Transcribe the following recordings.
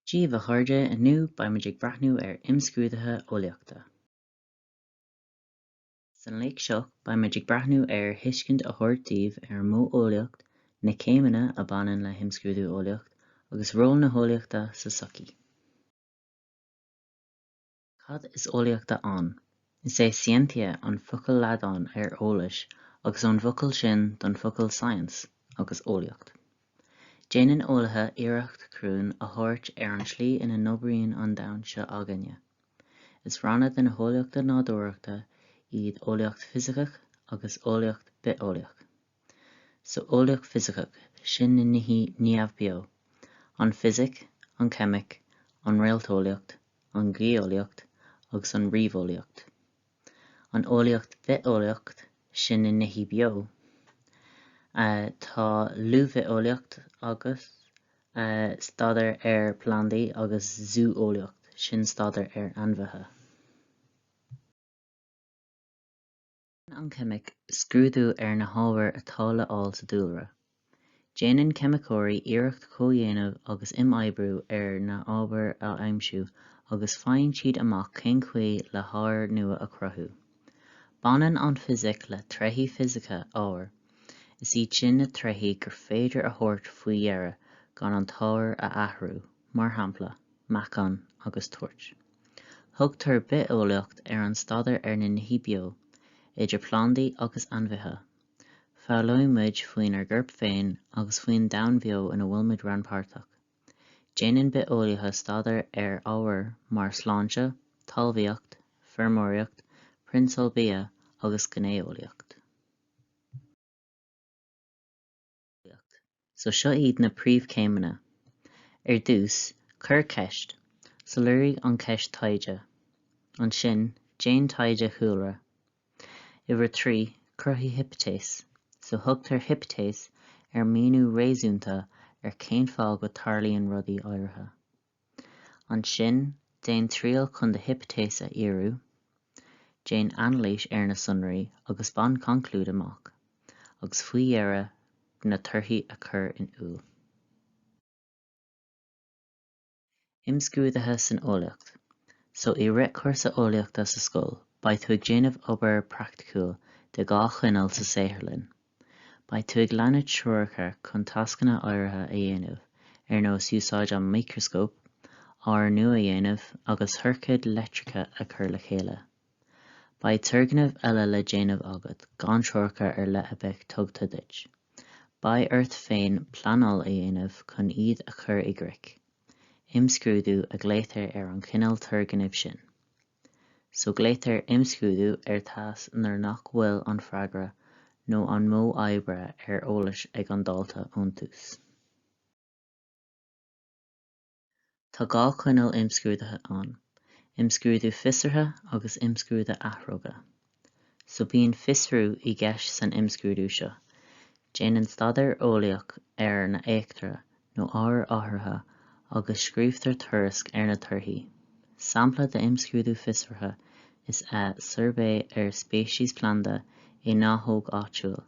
Dia daoibh a chairde, inniu beimid ag breathnú ar imscrúduithe eolaíochta. San léacht seo, beimid ag breathnú ar thuiscint a thabhairt daoibh ar an modh eolaíocht, na céimeanna a bhaineann le himscrúdú eolaíocht, agus ról na heolaíochta sa tsochaí. Cad is eolaíocht ann? Is é scientia an focal Laidine ar eolais agus ón bhfocal sin an focal science agus eolaíocht. Déanann eolaithe iarracht cruinn a thabhairt ar an tslí ina n-oibríonn an domhan seo againne. Is ranna de na heolaíochta nádúrachta iad eolaíocht fisiceach agus eolaíocht bitheolaíoch. Sa eolaíocht fisiceach, sin na nithe neamhbheo, an fisic, an cheimic, an réalteolaíocht, an gheolaíocht agus an ríomheolaíocht. An eolaíocht bhitheolaíoch, sin na nithe beo, tá luibheolaíocht agus staidéar ar phlandaí agus zú-eolaíocht, sin staidéar ar ainmhithe. An cheimic scrúdú ar na hábhair atá le fháil sa dúlra. Déanann ceimiceoirí iarracht comhdhéanamh agus imoibriú ar na hábhair a aimsiú agus faigheann siad amach cén chaoi le hábhair nua a chruthú. Baineann an fisic le tréithí fisice ábhair, is iad sin na tréithí gur féidir a thabhairt faoi deara gan an t-ábhar a athrú, mar shampla, meáchan agus toirt. Thugtar bitheolaíocht ar an staidéar ar na nithe beo, idir plandaí agus ainmhithe. Foghlaimeoidh muid faoinár gcorp féin agus faoin domhan beo ina bhfuil muid rannpháirteach. Déanann bitheolaithe staidéar ar ábhair mar shláinte, talmhaíocht, feirmeoireacht, prionsail bia agus géineolaíocht. So seo iad na príomhchéimeanna. Ar dtús, cuir ceist. Soiléirigh an cheist taighde. Ansin, déan taighde chúlra. Uimhir a trí, cruthaigh hipitéis. So thugtar hipitéis ar míniú réasúnta ar cén fáth go dtarlaíonn rudaí áirithe. Ansin, déan triail chun do hipitéis a fhíorú. Déan anailís ar na sonraí agus bain conclúid amach, agus faoi dheireadh na torthaí a chur in iúl. Imscrúduithe san Eolaíocht So i rith cúrsa eolaíochta sa scoil, beidh tú ag déanamh obair praiticiúil de dhá chineál sa saotharlann. Beidh tú ag leanúint treoracha chun tascanna áirithe a dhéanamh, ar nós úsáid an mhicreascóip, oighearnú a dhéanamh agus ciorcaid leictreacha a chur le chéile. Beidh turgnaimh eile le déanamh agat gan treoracha ar leith a beith tughta duit. Beidh ort féin pleanáil a dhéanamh chun iad a chur i gcrích. Imscrúdú a ghlaotar ar an chineál turgnaimh sin. so glaotar imscrúdú ar thasc nuair nach bhfuil an freagra nó an modh oibre ar eolas ag an dalta ón tús. Tá dhá chineál imscrúdaithe ann, imscrúdú fiosraithe agus imscrúdú athróga. so bíonn fiosrú i gceist san imscrúdú seo. Déanann staidéar eolaíoch ar na heachtra nó ábhair áirithe agus scríobhtar tuairisc ar na torthaí. Sampla d'imscrúdú fiosraithe is ea suirbhé ar speiceas planda i ngnáthóg áitiúil.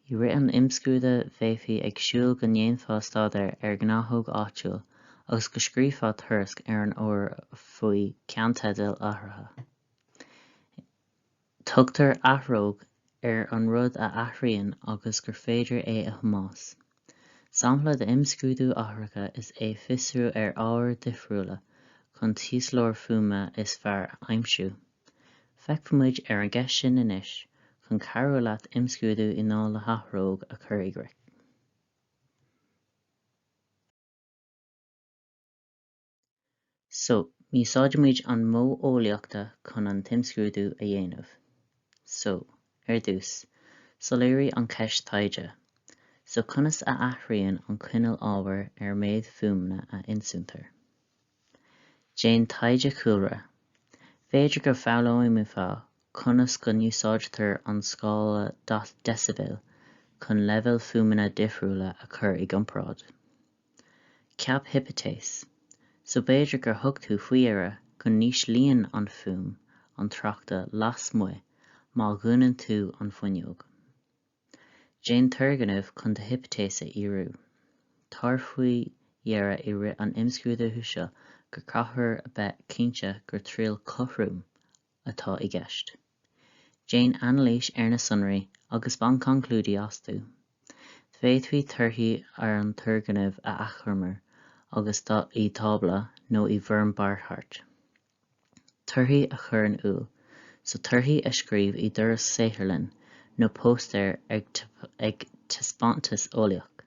I rith an imscrúdaithe bheifí ag súil go ndéanfá staidéar ar ghnáthóg áitiúil agus go scríobhfá tuairisc ar an obair faoi ceannteidil áirithe. Tugtar athróg ar an rud a athraíonn agus gur féidir é a thomhas. Sampla d'imscrúdú athracha is ea fiosrú ar ábhair dhifriúla chun an t-inslitheoir fuaime is fearr a aimsiú. Feicfimid ar an gceist sin anois chun cabhrú leat imscrúdú i ndáil le hathróg a chur i gcrích. So, úsáidimid an modh eolaíochta chun an t-imscrúdú a dhéanamh. So, ar dtús, soiléirigh an cheist taighde. So, conas a athraíonn an cineál ábhair ar mhéid fuaimeanna a ionsúitear? Déan taighde cúlra. B'fhéidir go bhfoghlaimeofá conas go n-úsáidtear an scála deicibeile chun leibhéil fuaimeanna difriúla a chur i gcomparáid. Ceap hipitéis, So b'fhéidir gur thug tú faoi deara go n-íslíonn an fuaim an tráchta lasmuigh má dhúnann tú an fuinneog. Déan turgnamh chun do hipitéis a fhíorú. Tabhair faoi deara i rith an imscrúdaithe seo gur caithfear a bheith cinnte gur triail cothrom atá i gceist. Déan anailís ar na sonraí agus bain conclúidí astu. D'fhéadfaí torthaí ar an turgnamh a achoimriú agus i dtábla nó i bhfoirm barrchairt. Torthaí a chur in iúl So torthaí a scríobh i dtuairisc saotharlann nó póstaer ag taispeántas eolaíoch.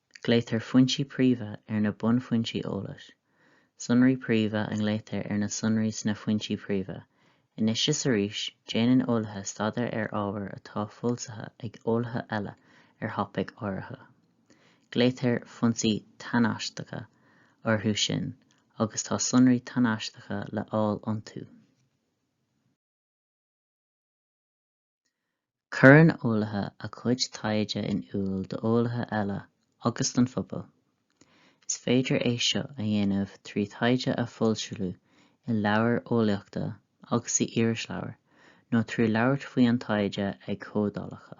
Glaotar foinsí príomha ar na bunfhoinsí eolais, sonraí príomha a ghlaotar ar na sonraí sna foinsí príomha. Anois is arís, déanann eolaithe staidéar ar ábhar atá foilsithe ag eolaithe eile ar thopaic áirithe. Glaotar foinsí tánaisteacha orthu sin agus tá sonraí tánaisteacha le fháil iontu. Cuireann eolaithe a gcuid taighde in iúl d'eolaithe eile agus don phobal. Is féidir é seo a dhéanamh trí thaighde a fhoilsiú i leabhair eolaíochta agus in irisleabhair nó trí labhairt faoi an taighde ag comhdhálacha.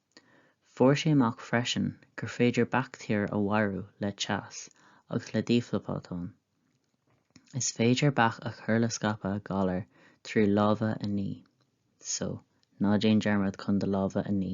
Fuair sé amach freisin gur féidir baictéir a mharú le teas agus le dífhabhtáin. Is féidir bac a chur le scaipeadh galar trí lámha a ní, so ná déan dearmad chun do lámha a ní.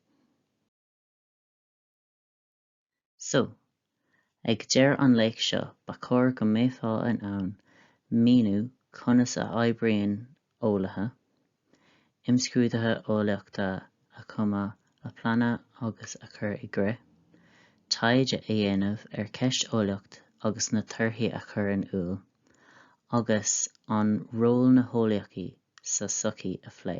So, ag deireadh an léacht seo, ba chóir go mbeifeá in ann a mhíniú conas a oibríonn eolaithe, imscrúduithe eolaíochta a chumadh, a pleanáil agus a chur i gcrích, taighde a dhéanamh ar cheist eolaíocht agus na torthaí a chur in iúl, agus an ról na heolaíochaí sa sochaí a phlé.